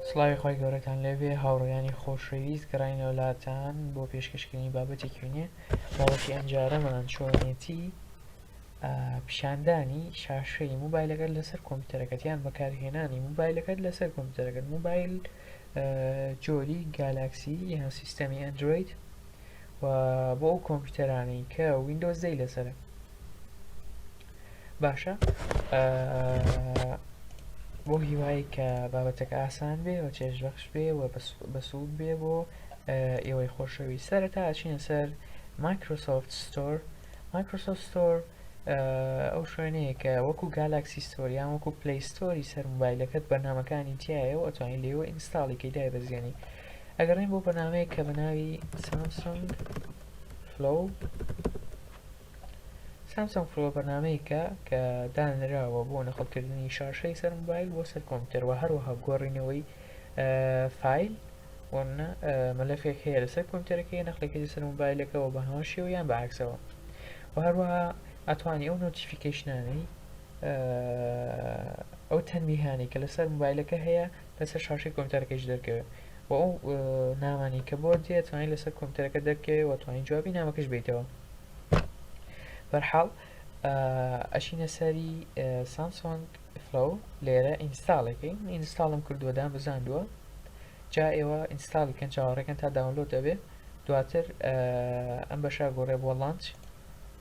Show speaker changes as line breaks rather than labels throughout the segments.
سڵاوی خوای گەورەتان لێبێ هاوڕێیانی خۆشەویست گەڕاینەوە لاتان بۆ پێشکەشکردنی بابەتێکی وێنێ بابەتی ئەمجارەمان چۆنێتی پیشاندانی شاشەی موبایلەکەت لەسەر کۆمپیوتەرەکەت یان بەکارهێنانی موبایلەکەت لەسەر کۆمپیوتەرەکەت موبایل جۆری گالاکسی یان سیستەمی ئەندروید و بۆ ئەو کۆمپیوتەرانی کە وینندۆزدەی لەسرە باشە بۆ هیوای کە بابەتەکە ئاسان بێ و چێژ بەخش بێ و بەسوود بێ بۆ ئێوەی خۆشەوی سەرەتا ئەچینە سەر مایکرۆسۆفت ستۆر مایکرۆسۆفت ستۆر ئەو شوێنەیە کە وەکو گالاکسی ستۆریان وەکو پلیستۆری سەر موبایلەکەت بەنامەکانی تایە و ئەتوانین لێوە ئینستاڵی کەی دای بەزیێنی ئەگەڕین بۆ بەنامەیە کە بەناوی سامسۆنگ فلو سامسۆنگ پرۆ بەرنامەیەکە کە دانراوە بۆ نەقڵکردنی شاشەی سەر مۆبایل بۆ سەر کۆمپیوتەر و هەروەها گۆڕینەوەی فایل وەمنە مەلەفێک هەیە لەسەر کۆمپیوتەرەکەی نەقلەکەی سەر مۆبایلەکەەوە بە هەمان شێوە یان بەعکسەوە و هەروەها ئەتوانی ئەو نۆتیفیکەیشنانەی ئەو تەنبیهانەی کە لەسەر مۆبایلەکە هەیە لەسەر شاشەی کۆمپیوتەرەکەیش دەرکەوێت و ئەو نامانەی کە بۆت دێت توانین لەسەر کۆمپیوتەرەکە دەرکەوێت و توانین جوابی نامەکەش بیتەوە بەرحاڵ ئەشینە سەری سامسۆنگ فلو لێرە ئینستاڵێکی من ئینستاڵم کردووە دام بزاندووە جا ئێوە ئینستاڵی کەن چاوەڕێکەن تا داونلۆد دەبێت دواتر ئەم بەشە گۆڕێ بۆ لانچ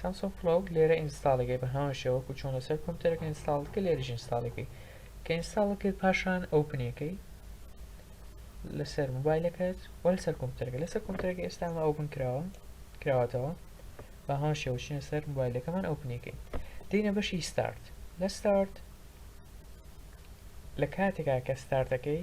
سامسۆنگ فلۆگ لێرە ئینستاڵیکەی بە هەمان شێوە وەکو چۆن لەسەر کۆمپیوتەرەکە ئینستاڵت کرد لێرەش ئینستاڵیکەی کە ئینستاڵت کرد پاشان ئەوپنیەکەی لەسەر موبایلەکەت وە لەسەر کۆمپیوتەرەکە لەسەر کۆمپیوتەرەکە ئێستا ئەمە ئەوپن کراوە کراوەتەوە بە هەمان شێوە چینە سەر موبایلەکەمان ئەوپنیەکەی دینە بەشی ستارت لە ستارت لە کاتێکا کە ستارتەکەی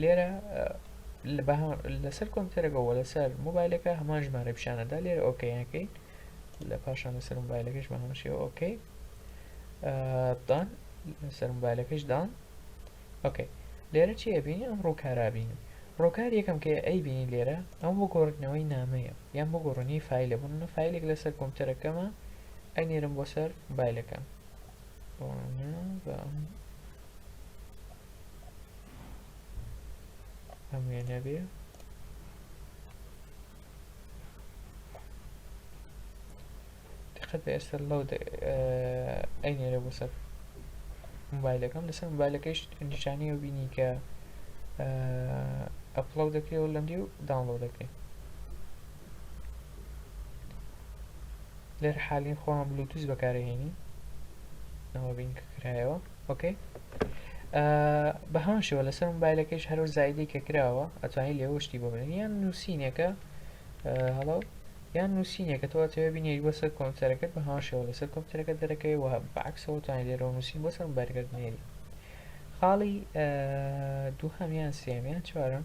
لێرە لەسەر کۆمپیوتەرەکە و لەسەر موبایلەکە هەمان ژمارە پیشانەدا لێرە ئۆکەیەکەی لە پاشان لەسەر موبایلەکەش بە هەمشێەوە ئۆکەی دان لەسەر موبایلەکەش دان ئۆکەی لێرە چی ئەبینی ئەم ڕووکارابینی ڕۆکار یەکەم کە ئەی بینی لێرە ئەم بۆ گۆڕنەوەی نامەیە یان بۆ گۆڕنی فیلە بوون فیلێک لەسەر کۆمپیوتەرەکەمە ئەنێرم بۆ سەر موبایلەکەم وانە بە ئەم ئەم وێنە بێ دقت بە ئێستا لەو ئەی نێرە بۆ سەر موبایلەکەم لەسەر موبایلەکەیش نیشانەیە بینی کە ئەپڵەو دەکرێەوە لەم دی و داڵۆ دەکرێت بەهەمان شێوە لەسەر مۆبایلەکەش هەر وەک زایدەی کە کراوە ئەتوانی لێوە شتی بۆ بنێی یان نووسینێکە هەڵۆ یان نووسینێکە تۆ ئەتەوێ بینێری بۆ سەر کۆمپیوتەرەکەت بەهەمان شێوە لەسەر کۆمپیوتەرەکە دەرەکەی وە بەعەکسەوە توانی لێرەوە نووسین بۆ سەر مۆبایلەکەت بنێری خاڵی دووهەم یان سێم یان چوارەم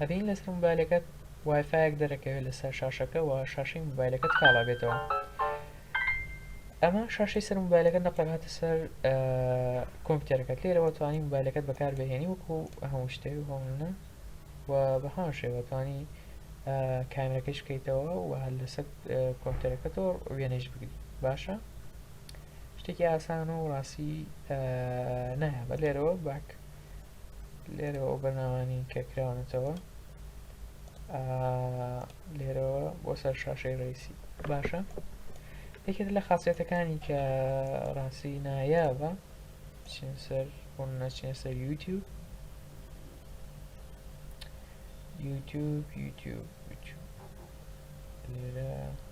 ئەبینی لەسەر موبایلەکەت وایفایەک دەرەکەوێت لەسەر شاشەکە و شاشەی موبایلەکەت کاڵا بێتەوە ئەمە شاشەی سەر موبایلەکە نەقەرهاتە سەر کۆمپیوتەرەکەت لێرەوە توانی موبایلەکەت بەکار بهێنی وەکو هەموو شتێک هۆمنە و بە هەمان شێوە توانی کامرەکەش بکەیتەوە و هەر لەسەر کۆمپیوتەرەکەتەوە وێنەش بگری باشە شتێکی ئاسان و ڕاستی نایە بە لێرەوە باک لێرەوە بەرنامانی کە کراونەتەوە لێرەوە بۆ سەر شاشەی ڕیسی باشە یەکێت لە خاصێتەکانی کە ڕاستی نایابە چین سەر بۆ نەچین سەر یوتیوب یوتیوب یوتیوب لێرە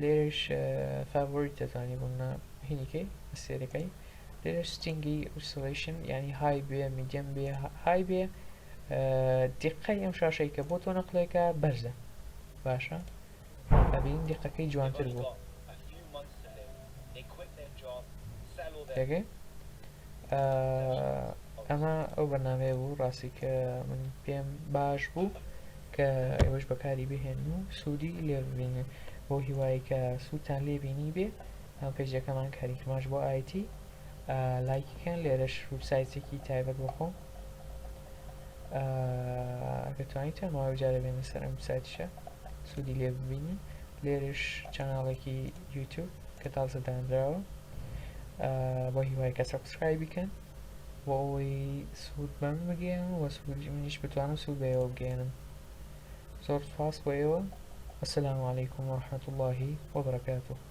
لێرەش فاڤۆریت دەتوانی بۆ منە هینیکەی ئەستێرەکەی لێرەش ستینگی ئوسڵیشن یعنی های بێ میدیەم بێ های بێ دیقەی ئەم شاشەی کە بۆ تۆ نەقلێکە بەرزە باشە ئەبین دیقەکەی جوانتر بوو تێگەی ئەمە ئەو بەنامەیە بوو ڕاستی کە من پێم باش بوو کە ئێوەش بەکاری بهێنن و سودی لێ ببینن بۆ هیوایی کە سوودتان لێ بینی بێ ئەم پەیجەکەمان کاریکماش بۆ ئایتی لایکیکەن لێرەش وبسایتێکی تایبەت بۆ خۆم ئەگە توانیت ماوەی جارە بێنە سەر ئەم سایتشە سوودی لێ ببینن لێرش چەناڵێکی یوتوب کە تازە دانراوە بۆ هیوای کە سەبسکرای بکەن بۆ ئەوەی سود بە من بگەیەنن و سودی منیش بتوانم سود بە ئێوە بگەیەنم زۆر سوپاس بۆ ئێوە وسلام علیکم ورحمة اللە وبرکاته